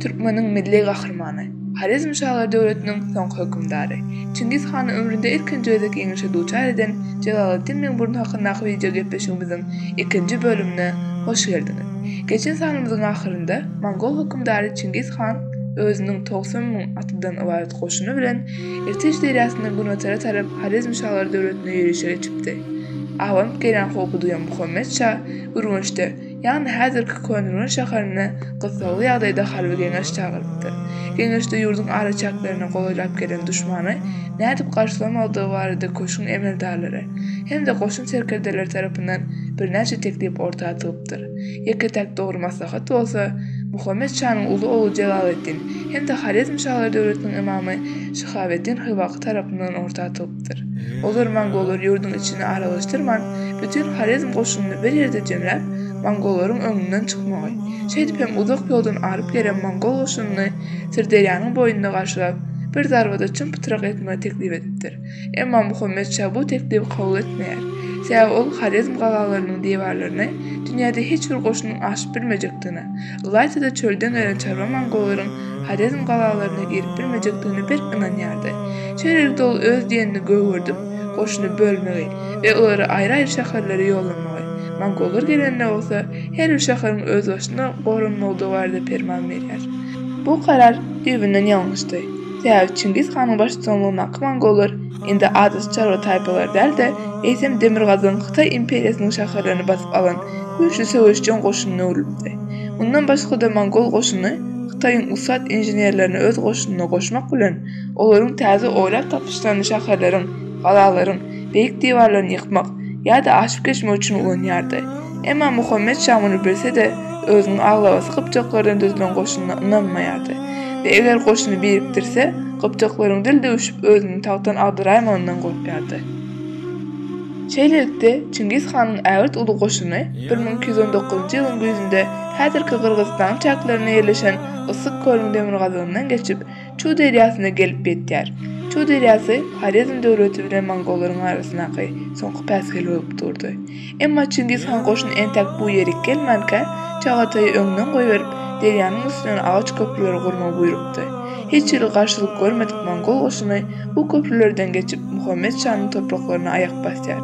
Türkmeniň milli gahrymany, Horezm şalar döwletiniň soňky hökümdary. Çingiz hany ömründe ilkinji gezek ýeňişe duçar eden Jelaleddin Meňburun hakyndaky wideo gepleşigimiziň ikinji bölümine hoş geldiňiz. Geçen sanymyzyň ahyrynda mongol hökümdary Çingiz han özüniň togsan müň atlydan ybarat goşuny bilen Irtej derýasyndan günbatara tarap Horezm şalar döwletine ýörişe geçipdi. Abanyp gelýän howpy duýan Muhammet şa Ürgençde Ýagny häzirki Könürgen şäherine gyssagly ýagdaýda harby geňeş çagyrypdyr. Geňeşde ýurduň araçäklerine golaýlap gelen duşmany nädip garşylamalydygy barada köşgüň emeldarlary hem-de goşun serkerdeleri tarapyndan birnäçe teklip orta atylypdyr. Ýeke-täk dogry maslahat bolsa, Muhammet şanyň uly ogly Jelaleddin hem-de Horezm şalary döwletiniň ymamy Şyhabeddin Hywaky tarapyndan orta atylypdyr. ýaýradypdyr. O zaman mongollar ýurduň içini aralaşdyrman, bütin horezm goşunyny bir ýerde jemläp, mongollaryň öňünden çykmagy, şeýdip hem uzak ýoldan aryp gelen mongol goşunyny Syrderýanyň boýunda garşylap, bir zarbada çym-pytrak etmegi teklip edipdir. Emma Muhammet şa bu teklibi kabul etmeýär. Sebäbi ol horezm galalarynyň diwarlaryny dünýäde hiç bir goşunyň aşyp bilmejekdigine, Ylaýta-da çölden gelen çarwa mongolaryň Horezm galalaryna girip bilmejekdigine berk ynanýardy. Şeýlelikde ol öz diýenini gögerdip, goşuny bölmegi we olary aýry-aýry şäherlere ýollamagy, mongollar gelende bolsa, her bir şäheriň özbaşyna goranmagydygy barada perman berýär. Bu karar düýbünden ýalňyşdy. Sebäbi Çingiz hanyň baştutanlygyndaky mongollar Indi adysy çarwa taýpalary däl-de, eýsem demirgazygyň Hytaý imperiýasynyň şäherlerini basyp alan güýçli söweşjeň goşunyna öwrülipdi. Mundan başga-da mongol goşuny Hytaýyň ussat inženerlerini öz goşunyna goşmak bilen, olaryň täze oýlap tapyşlaryny şäherleriň, galalaryň, beýik diwarlaryny ýykmak ýa-da aşyp geçmek üçin ulanýardy. Emma Muhammet şa muny bilse-de, özüniň aglabasy gypjaklardan düzülen goşunyna ynanmaýardy we eger goşuny birikdirse, Gypjaklaryň dil döwüşip özüni tagtdan agdaraýmagyndan gorkýardy. Şeýlelikde, Çingiz hanyň ägirt uly goşuny bir müň iki ýüz on dokuzynjy ýylyň güýzünde häzirki Gyrgyzystanyň çäklerinde ýerleşen Yssyk kölüň demirgazygyndan geçip, Çu derýasyna gelip ýetýär. Çu derýasy Horezm döwleti bilen mongollaryň arasyndaky soňky päsgel bolup durdy. Emma Çingiz han goşun entek bu ýerik gelmänkä, Çagataýy öňden goýberip, derýanyň üstünden agaç köprüleri gurmagy buýrupdy. Hiç hili garşylyk görmedik mongol goşuny bu köprülerden geçip, Muhammet şanyň topraklaryna aýak basýar.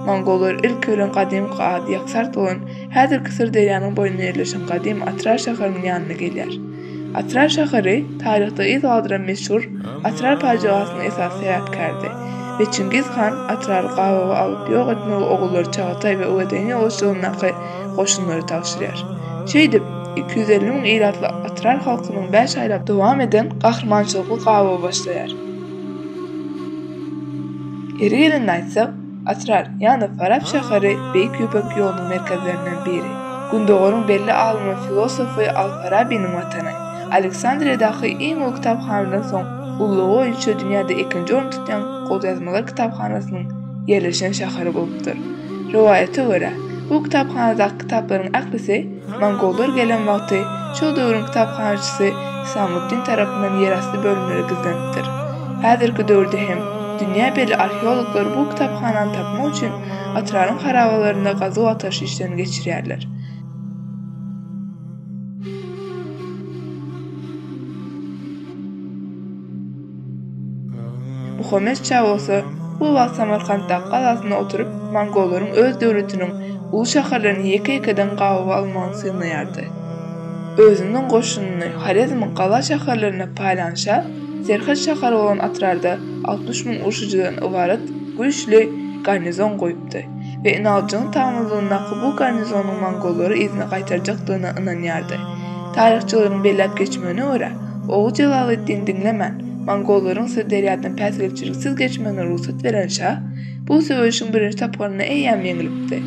Mongollar ilki bilen gadymky ady Ýaksart bolan, häzirki Syrderýanyň boýunda ýerleşen gadym Atrar şäheriniň ýanyna gelýär. Atrar şäheri taryhda yz galdyran meşhur Atrar pajygasynyň esasy sebäpkäridi we Çingiz han Atrary gabawa alyp ýok etmegi ogullary Çagataý we Öwezene goşunyndaky goşunlara tabşyrýar. Şeýdip, iki ýüz elli müň ilatly Atrar halkynyň bäş aýlap dowam eden gahrymançylykly gabawy başlaýar. Ýeri gelende aýtsak, Atral, ýagny Farap şäheri Beýik Ýüpek ýolunyň merkezlerinden biri. Gündogaryň belli alymy filosofy Al-Farabiniň watany. Aleksandriýadaky iň uly kitaphanadan soň, ululygy boýunça dünýäde ikinji orny tutýan golýazmalar kitaphanasynyň ýerleşen şäheri bolupdyr. Rowaýata görä, bu kitaphanadaky kitaplaryň ählisi, Mongollar gelen wagty şol döwrüň kitaphanaçysy Hisamuddin tarapyndan ýerasty bölümlere gizlenipdir. Häzirki döwürde hem dünýä belli arheologlar bu kitaphanany tapmak üçin Atraryň harabalarynda gazuw-agtaryş işlerini geçirýärler. Muhammet şa bolsa bu wagt Samarkantdaky galasynda oturyp, mongollaryň öz döwletiniň uly şäherlerini ýeke-ýekeden gabaw almagyny synlaýardy. Özüniň goşunyny Horezmiň gala şäherlerine paýlan şa serhet şäheri bolan Atrarda altmyş müň urşujydan ybarat güýçli garnizon goýup, bolupdy we Inaojuň taňrylygyndaky bu garnizonyň mongollary yzyna gaýtarjakdygyna ynanýardy. Taryhçylaryň belläp geçmegine görä, ogy Jelaleddin diňlemän, mongollaryň Syrderýadan päsgelçiliksiz geçmegine rugsat beren şa, bu söweşiň birinji tapgyrynda eýýäm ýeňlipdi.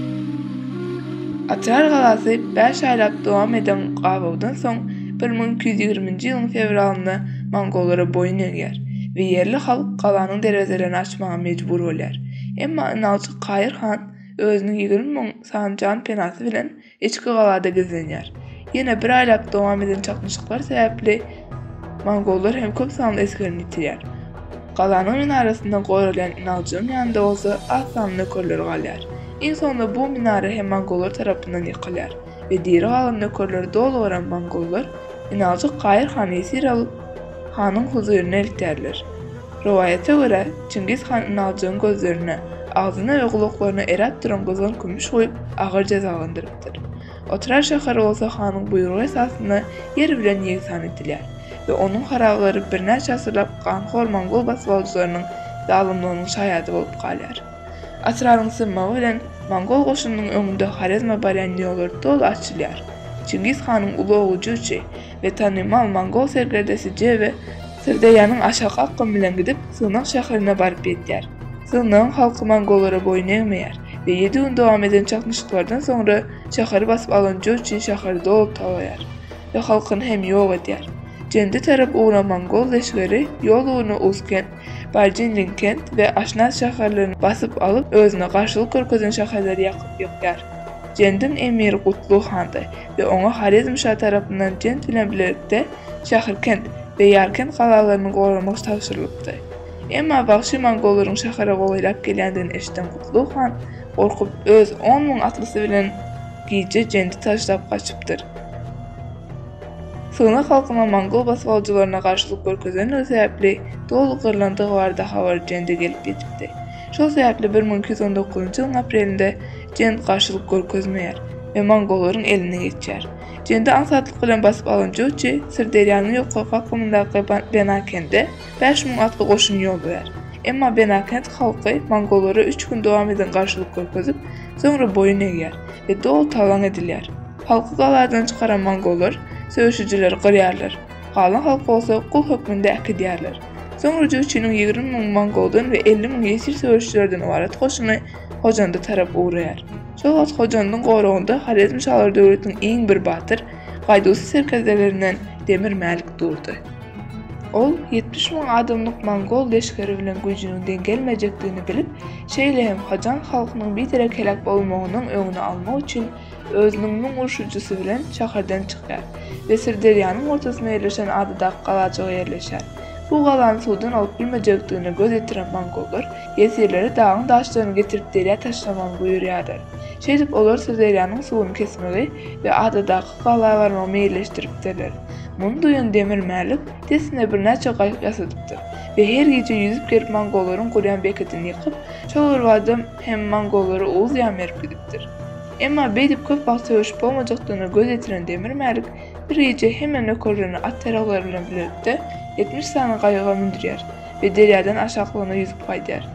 Otrar galasy bäş aýlap dowam eden gabawdan soň, bir müň iki ýüz ýigriminji ýylyň fewralynda mongollara boýun egýär we ýerli halk galanyň derwezelerini açmaga mejbur bolýar. Emma ynalçy Kaýyr han özüniň ýigrimi müň sany jan-penasy bilen içki galada gizlenýär. Ýene bir aýlap dowam eden çaknyşyklar sebäpli mongollar hem köp sanly esgerini ýitirýär. Galanyň minarasyndan goralýan ynalçynyň ýanynda bolsa az sanly nökerleri galýar. Iň soňunda bu minara hem mongollar tarapyndan ýykylýar. we diri galan nökerleri doly gören mongollar Inaljyk Kaýyr hany ýesir alyp, hanyň huzuryna eltýärler. Rowaýata görä, Çingiz han Inaljygyň gözlerine, agzyna we gulaklaryna eräp duran gyzgyn kümüş guýup, agyr jezalandyrypdyr. Otrar şäheri bolsa hanyň buýrugy esasynda ýer bilen ýegsan edilýär we onuň harabalary birnäçe asyrlap ganhor mongol basybalyjylarynyň zalymlygynyň şaýady bolup galýar. Atrabyň synmagy bilen mongol goşunynyň öňünde Horezme barýan ýollar doly açylýar. Çingiz hanyň uly ogly Juçi we tanymal mongol serkerdesi Jebe Syrderýanyň aşaky akgymy bilen gidip, Sygnak şäherine baryp ýetýär. Sygnagyň halky mongollara boýun egmeýär we ýedi gün dowam eden çaknyşyklardan soňra şäheri basyp alan Juçi şäheri doly talaýar we halkyny hem ýok edýär. Jende tarap ugran mongol leşgeri ýol ugruna Usken, Barjinin kent we Aşnaz şäherlerini basyp alyp, özüne garşylyk görkezen şäherleri ýakyp ýykýar. Jendiň emiri Gutlu handy we oňa Horezm şa tarapyndan Jend bilen bilelikde Şährkent we Ýarkent galalaryny goramak tabşyrylypdy. Emma wagşy mongollaryň şähere golaýlap gelýändigini eşiden Gutlu han gorkup, öz on müň atlysy bilen gije Jendi taşlap gaçypdyr. Sygnak halkynyň mongol basgalaýjylaryna garşylyk görkezendigi sebäpli doly gyrlandygy barada habar Jende gelip ýetipdi. Şol sebäpli bir müň iki ýüz on dokuzynjy ýylyň aprelinde Jend garşylyk görkezmeýär we mongollaryň eline geçýär. Jendi aňsatlyk bilen basyp alan Joçi Syrderýanyň ýokarky akymyndaky Benakende bäş müň atly goşun ýollaýar. Emma Benakend halky mongollara üç gün dowam eden garşylyk görkezip, soňra boýun egýär we doly talaň edilýär. Halky galadan çykaran mongollar söweşijileri gyrýarlar, galan halk bolsa gul hökmünde äkidýärler. Soňra Jüýçiniň ýigrimi müň mongoldan we elli müň ýesir söweşijilerden ybarat goşuny Hojanda tarap ugraýar. Şol wagt Hojandyň goragynda Horezmşalar döwletiniň iň bir batyr, gaýduwsyz serkerdelerinden Demir Mälik durdy. Ol ýetmiş müň adamlyk mongol leşgeri bilen güýjüniň deň gelmejekdigini bilip, şeýle hem hojan halkynyň biderek heläk bolmagynyň öňüni almak üçin özüniň müň urşujysy bilen şäherden çykýar we Syrderýanyň ortasynda ýerleşen adadaky galajyga ýerleşýär. Bu galany suwdan alyp bilmejekdigine göz ýetiren mongollar ýesirleri dagyň daşlaryny getirip derýa taşlamagyny buýurýarlar. Şeýdip, olar Syrderýanyň suwuny kesmegi we adadaky gala barmagy meýilleşdiripdirler. Muny duýan Demir Mälik dessine birnäçe gaýyk ýasadypdyr we her gije ýüzüp gelip mongollaryň gurýan bekedini ýykyp, şol bir bada hem mongollara Oguz ýa Merw gidipdir. Emma beýdip köp wagt söweşip bolmajakdygyna göz ýetiren Demir Mälik bir gije hemme nökerlerini at-ýaraglary bilen bilelikde ýetmiş sany gaýyga mündürýär we derýadan aşaklygyna ýüzüp gaýdýar.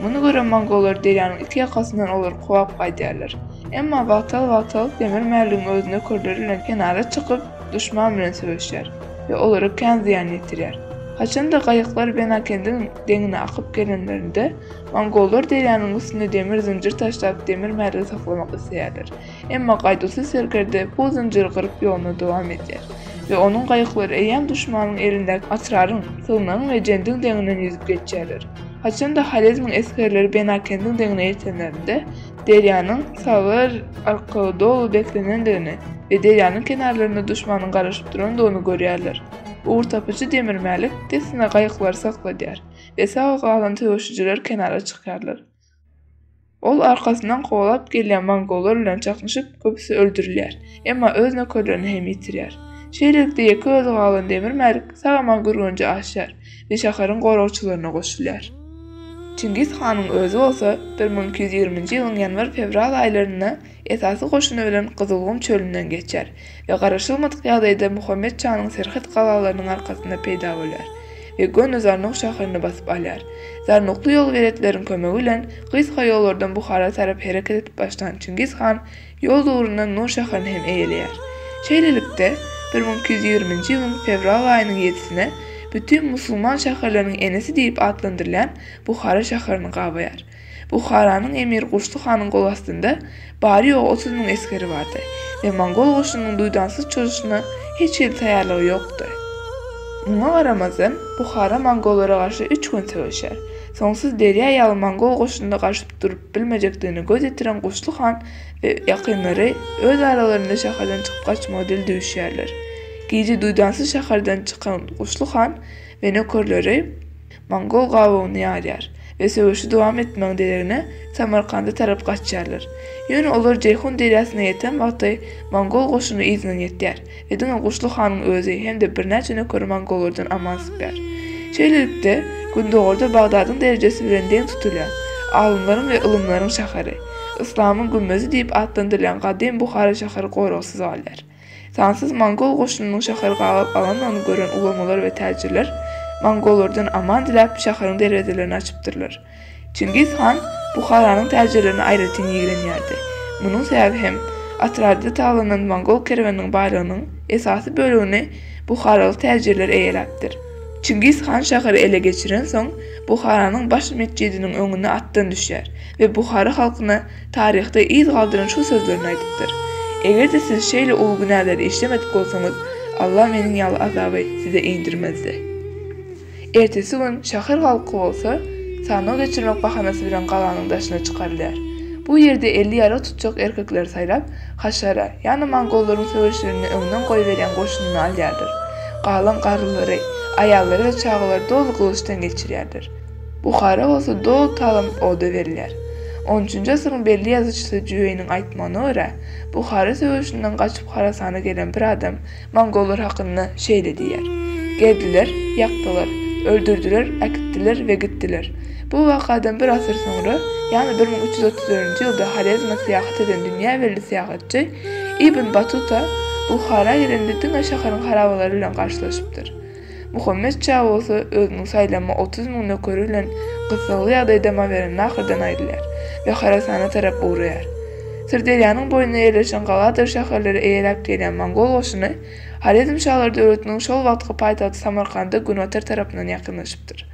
Muny gören mongollar derýanyň iki ýakasyndan olary kowap gaýdýarlar. Emma wagtal-wagtal Demir Mäligiň özi nökerleri bilen kenara çykyp, duşman bilen söweşýär we olara kän zyýan ýetirýär. Haçan-da gaýyklar Benakendiň deňine akyp gelenlerinde, Mongollar derýanyň üstünde demir zynjyr taşlap, demir mergi saklamak isleýärler. Emma gaýduwsyz serkerde bu zynjyry gyryp ýoluna dowam edýär we onuň gaýyklary eýýäm duşmanyň elindäki Atraryň, Sygnagyň we Jendiň deňinden ýüzüp geçýärler. Haçan-da Horezmiň esgerleri Benakendiň deňine ýetenlerinde, derýanyň sagar arkaly doly beslenendigini we derýanyň kenarlarynda duşmanyň garaşyp durandygyny görýärler. Ugurtapyjy demirmälik dessine gaýyklary sakladýar. we sag galan söweşijiler kenara çykýarlar. Ol arkasyndan kowalap gelýän mongollar bilen çaknyşyp, köpüsi öldürilýär, emma öz nökerlerini hem ýitirýär. Şeýlelikde ýeke özi galan Demir Mälik sag-aman Gürgenje aşýar we şäheriň goragçylaryna goşulýar. Çingiz hanyň özi bolsa bir müň iki ýüz ýigriminji ýylyň ýanwar-fewral aýlarynda esasy goşuny bilen Gyzylgum çölünden geçer we garaşylmadyk ýagdaýda Muhammet şanyň serhet galalarynyň arkasynda peýda bolýar we göni Zarnuk şäherini basyp alýar. Zarnukly ýolberetleriň kömegi bilen gysga ýollardan Buhara tarap hereket edip başlan Çingiz han ýol ugrundan Nur şäherini hem eýeleýär. Şeýlelikde, bir müň iki ýüz ýigriminji ýylyň fewral aýynyň ýedisine bütin musulman şäherleriniň enesi diýlip atlandyrylýan Buhara şäherini gabaýar. Buharanyň emiri Gurşdy hanyň golastynda bary-ýogy otuz müň esgeri bardy we mongol goşunynyň duýdansyz çozuşyna hiç hili taýýarlygy ýokdy. Muňa garamazdan, Buhara mongollara garşy üç gün söweşer. Soňsuz derýa ýaly mongol goşunyna garşy durup bilmejekdigine göz ýetiren Gurşdy han we ýakynlary öz aralarynda şäherden çykyp gaçmagy dil düwüşýärler. Gije duýdansyz şäherden çykan Gurşdy han we nökerleri, Mongol gabawyny ýarýar we söweşi dowam etmegiň deregine Samarkanda tarap gaçýarlar. Ýöne olar Jeýhun derýasyna ýeten wagty mongol goşuny yzyndan ýetýär we diňe Guşly hanyň özi hem-de birnäçe nökeri mongollardan aman sypýar. Şeýlelikde, gündogarda Bagdadyň derejesi bilen deň tutulýan, alymlaryň we ylymlaryň şäheri, yslamyň gümmezi diýip atlandyrylýan gadym Buhara şäheri goragsyz galýar. Sansyz mongol goşunynyň şäheri gabap alandygyny gören ulamalar we täjirler mongollardan aman diläp, şäheriň derwezelerini açypdyrlar. Çingiz han Buharanyň täjirlerine aýratyn ýigrenýärdi. Munuň sebäbi hem, Atrarda talanan mongol kerweniniň baýlygynyň esasy bölegini buharaly täjirler eýeläpdir. Çingiz han şäheri ele geçirensoň, Buharanyň baş metjidiniň öňüne atdan düşýär we Buhara halkyna Taryhda yz galdyran şu sözlerini aýdypdyr, Eger-de siz şeýle uly günäleri işlemedik bolsaňyz, Allah meniň ýaly azaby size indirmezdi. Ertesi gün şäher halky bolsa, sanaw geçirmek bahanasy bilen galanyň daşyna çykarylýar. Bu ýerde elli ýarag tutjak erkekleri saýlap, haşara, ýagny mongollaryň söweşlerinde öňden goýberýän goşunyny alýarlar. Galan garrylary, aýallary we çagalary doly gylyçdan geçirýärler. Buhara bolsa doly talyp oda berilýär. On üçünji asyryň belli ýazyjysy Jüweýniň aýtmagyna görä, Buhara söweşinden gaçyp Horasana gelen bir adam mongollar hakynda şeýle diýýär, Geldiler, ýakdylar, öldürdiler, äkitdiler we gitdiler. Bu wakadan bir asyr soňra, ýagny bir müň üç ýüz otuz dördünji ýylda Horezme syýahat eden dünýä belli syýahatçy Ibn Batuta Buhara gelende diňe şäheriň harabalary bilen garşylaşypdyr. Muhammet şa bolsa özüniň saýlama otuz müň nökeri bilen gyssagly ýagdaýda Mawerannahrdan aýrylýar we Horasana tarap ugraýar. Syrderýanyň boýunda ýerleşen galadyr şäherleri eýeläp gelýän mongol goşuny Horezm şalary döwletiniň şol wagtky paýtagty Samarkanda günotar tarapyndan ýakynlaşypdyr.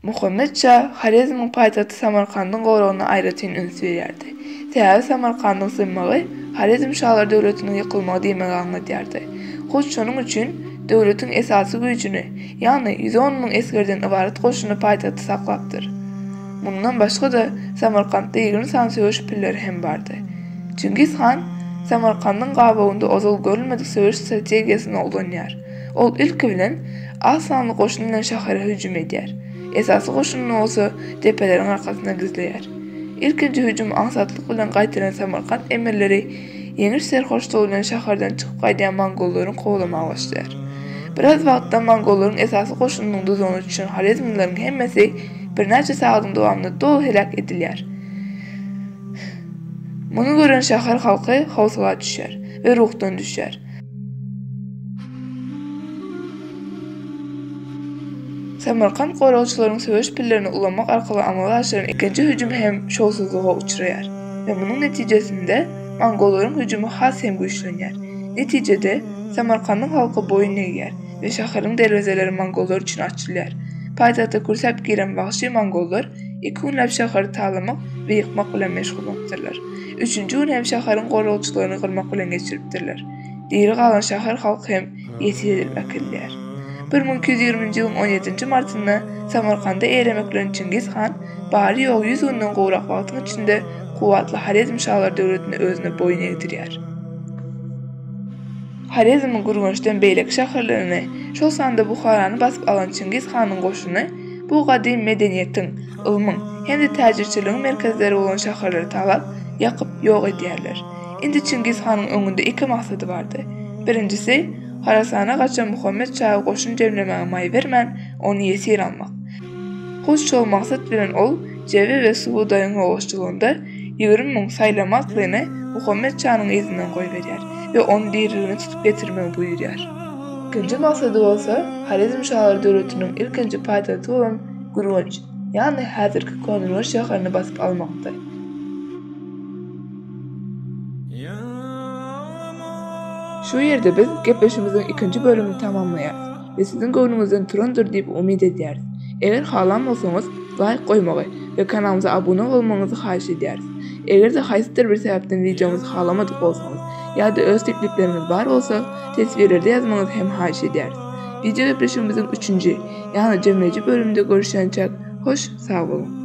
Muhammet şa Horezmiň paýtagty Samarkandyň goragyna aýratyn üns berýärdi. Sebäbi Samarkandyň synmagy Horezm şalar döwletiniň ýykylmagy diýmegi aňladýardy. Hut şonuň üçin döwletiň esasy güýjüni, ýagny ýüz on müň esgerden ybarat goşuny paýtagtda saklapdyr. Mundan başga-da, Samarkantda ýigrimi sany söweş pilleri hem bardy. Çingiz han Samarkandyň gabawynda ozal görülmedik söweş strategiýasyny ulanýar. Ol ilki bilen az sanly goşun bilen şähere hüjüm edýär, esasy goşunyny bolsa depeleriň arkasynda gizleýär. Ilkinji hüjüm aňsatlyk bilen gaýtalan Samarkant emirleri ýeňiş serhoşlygy bilen şäherden çykyp gaýdýan mongollaryň kowlamaga başlaýar. Biraz wagtdan mongollaryň esasy goşunynyň duzagyna düşen horezmlileriň hemmesi birnäçe sagadyň dowamynda doly heläk edilýär. Muny gören şäher halky howsala düşýär we ruhdan düşýär. Samarkant goragçylaryň söweş pillerini ulanmak arkaly amala aşyran ikinji hüjümi hem şowsuzlyga uçraýar we munuň netijesinde mongollaryň hüjümi has hem güýçlenýär. Netijede, Samarkandyň halky boýun egýär we şäheriň derwezeleri mongollar üçin açylýar. Paýtagta kürsäp giren wagşy mongollar Iki günläp şäheri talamak we ýykmak bilen meşgul bolupdyrlar. Üçünji gün hem şäheriň goragçylaryny gyrmak bilen geçiripdirler. Diri galan şäher halky hem ýesir edilip äkidilýär. Bir müň iki ýüz ýigriminji ýylyň on ýedinji martynda Samarkanda eremek bilen Çingiz han bary-ýogy ýüz günden gowrak wagtyň içinde kuwwatly Horezmşalar döwletini özüne boýun egdirýär. Horezmiň Gürgençden beýleki şäherlerini, şol sanda Buharany basyp alan Çingiz hanyň goşuny bu gadymy medeniýetiň, ylmyň hem-de täjirçiligiň merkezleri bolan şäherleri talap, ýakyp, ýok edýärler. Indi Çingiz hanyň öňünde iki maksady bardy. Birinjisi, Horasana gaçan Muhammet şahy goşun jemlemäge maý bermän, ony ýesir almak. Hut şol maksat bilen ol Jebe we Subudaýyň ýogaşjylygynda ýigrimi müň saýlama atlyny Muhammet şanyň yzyndan goýberýär we ony diriligine tutup getirmegi buýurýar. Ikinji maksady bolsa Horezm şalar döwletiniň ilkinji paýtagty bolan Gürgenç, ýagny häzirki Könürgenç şäherini basyp almakdy. Şu ýerde biz gepleşigimiziň ikinji bölümini tamamlaýarys. we siziň göwnüňizden turandyr diýip umyt edýäris. Eger halan bolsaňyz, laýk goýmagy we kanalymyza abuna bolmagyňyzy haýyş edýäris. Eger-de haýsydyr bir sebäpden wideomyzy halamadyk bolsaňyz ýa-da öz teklipleriňiz bar bolsa, teswirlerde ýazmagyňyzy hem haýyş edýäris. Wideo gepleşigimiziň üçünji, ýagny jemleýji bölüminde görüşýänçäk, hoş, sag boluň!